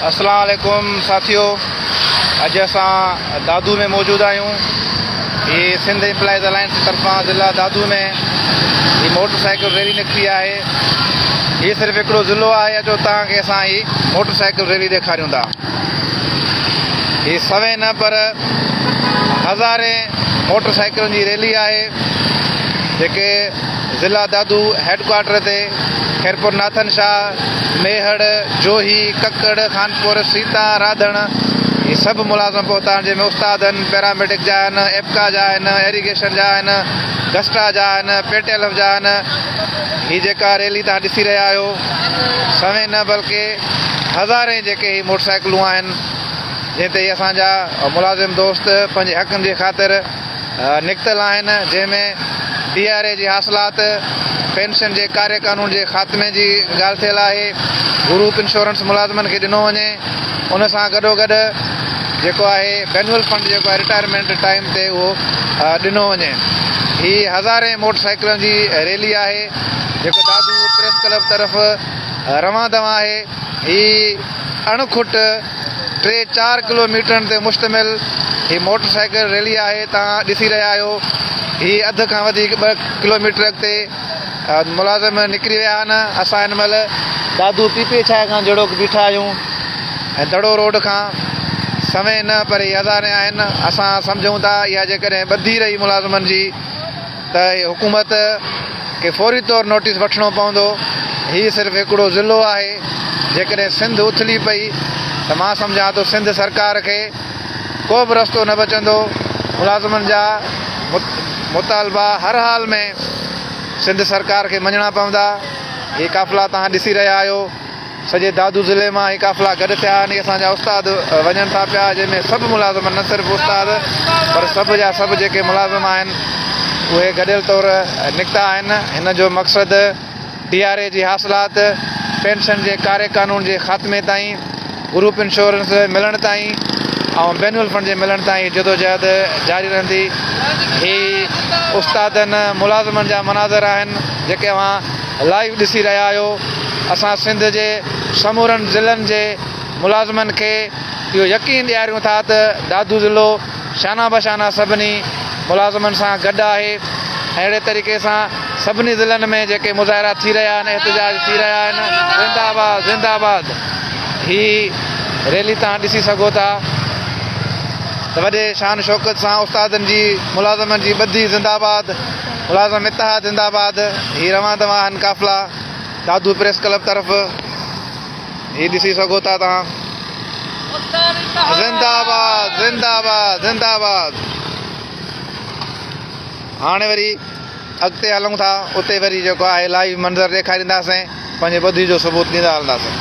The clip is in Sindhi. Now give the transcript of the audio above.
اسلام عليڪم ساٿيو اڄ اسان دادو ۾ موجود آهيون هي سنڌ امپلائيز الائنس جي طرفان ضلع دادو ۾ هي موٽر سائيڪل ريلي نڪتي آهي هي صرف هڪڙو ضلعو آهي اچو تان کي اسان هي موٽر سائيڪل ريلي ڏيکاريون ٿا هي سوين نه پر هزارين موٽر سائيڪلن جي ريلي آهي جيڪي ضلع دادو هيڊڪوارٽر تي خيرپور ناٿن شاهه، ميهڙ، جوهي، ڪڪڙ، خانپور، سيتا، راڌڻ هي سڀ ملازم پهتا آهن جنهن ۾ استاد آهن، پيراميڊڪ جا آهن، ايپڪا جا آهن، ايريگيشن جا آهن، گسٽا جا آهن، پيٽيلف جا آهن. هي جيڪا ريلي توهان ڏسي رهيا آهيو سوين نه بلڪه هزارين جيڪي هي موٽرسائيڪلون آهن جنهن تي اسان جا ملازم دوست پنهنجي حقن جي خاطر نڪتل آهن جنهن ۾ پي آر اي جي حاصلات، پينشن جي ڪاري قانون جي خاتمي جي ڳالهه ٿيل آهي، گروپ انشورنس ملازمن کي ڏنو وڃي ان سان گڏوگڏ جيڪو آهي بينول فنڊ جيڪو آهي رٽائرمينٽ ٽائيم تي اهو ڏنو وڃي. هي هزارين موٽر سائيڪلن جي ريلي آهي جيڪو دادو پريس ڪلب طرف روان دوان آهي. هي اڻ کٽ. ٽي چار ڪلو ميٽرن تي مشتمل هي موٽر سائيڪل ريلي آهي توهان ڏسي رهيا آهيو هي اڌ کان وڌيڪ ٻه ڪلو ميٽر اڳتي ملازم نڪري ويا آهن اسان هن مهل دادو پي پي ڇاهه کان جهڙوڪ بيٺا آهيون ۽ دڙو روڊ کان سوين نه پر هي هزارين آهن اسان سمجهون ٿا اها جيڪڏهن ٻڌي رهي ملازمن جي ته حڪومت کي فوري طور نوٽيس وٺڻو پوندو، هي صرف هڪڙو ضلعو آهي، جيڪڏهن سنڌ اٿلي پئي ته مان سمجهان ٿو سنڌ سرڪار کي ڪو به رستو نه بچندو، ملازمن جا مطالبا هر حال ۾ سنڌ سرڪار کي مڃڻا پوندا، هي قافلا توهان ڏسي رهيا آهيو. سڄي دادو ضلعي مان هي قافلا گڏ ٿيا آهن. هي اسان جا استاد وڃن ٿا پيا، جنهن ۾ سڀ ملازم نه صرف استاد پر سڀ جا سڀ جيڪي ملازم آهن، اهي گڏيل طور نڪتا آهن. هن جو مقصد ڊي آر اي جي حاصلات، پينشن جي ڪاري قانون جي خاتمي تائين، گروپ انشورنس ملڻ تائين ۽ بينول فنڊ جي ملڻ تائين هي جدوجهد جاري رهندي. هي استادن ملازمن جا مناظر آهن، جيڪي اوهان. لائيو ڏسي رهيا آهيو اسان سنڌ جي سمورن ضلعن جي ملازمن کي اهو يقين ڏياريون ٿا ته دادو ضلعو شانه بشانه سڀني ملازمن سان گڏ آهي اهڙي طريقي سان سڀني ضلعن ۾ جيڪي مظاهرا ٿي رهيا آهن احتجاج ٿي رهيا آهن زنده آباد زنده آباد هي ريلي تان ڏسي سگهو ٿا ته وڏي شان شوڪت سان استادن جي ملازمن جي ٻڌي زنده آباد ملازم اتحاد زنده آباد هي روان دوان آهن قافلا دادو پريس ڪلب طرف هي ڏسي سگهو ٿا توهان زنده آباد زنده آباد زنده آباد هاڻي وري اڳتي هلون ٿا اتي وري جيڪو آهي لائيو منظر ڏيکارينداسين پنهنجي ٻڌي جو ثبوت ڏيندا هلنداسين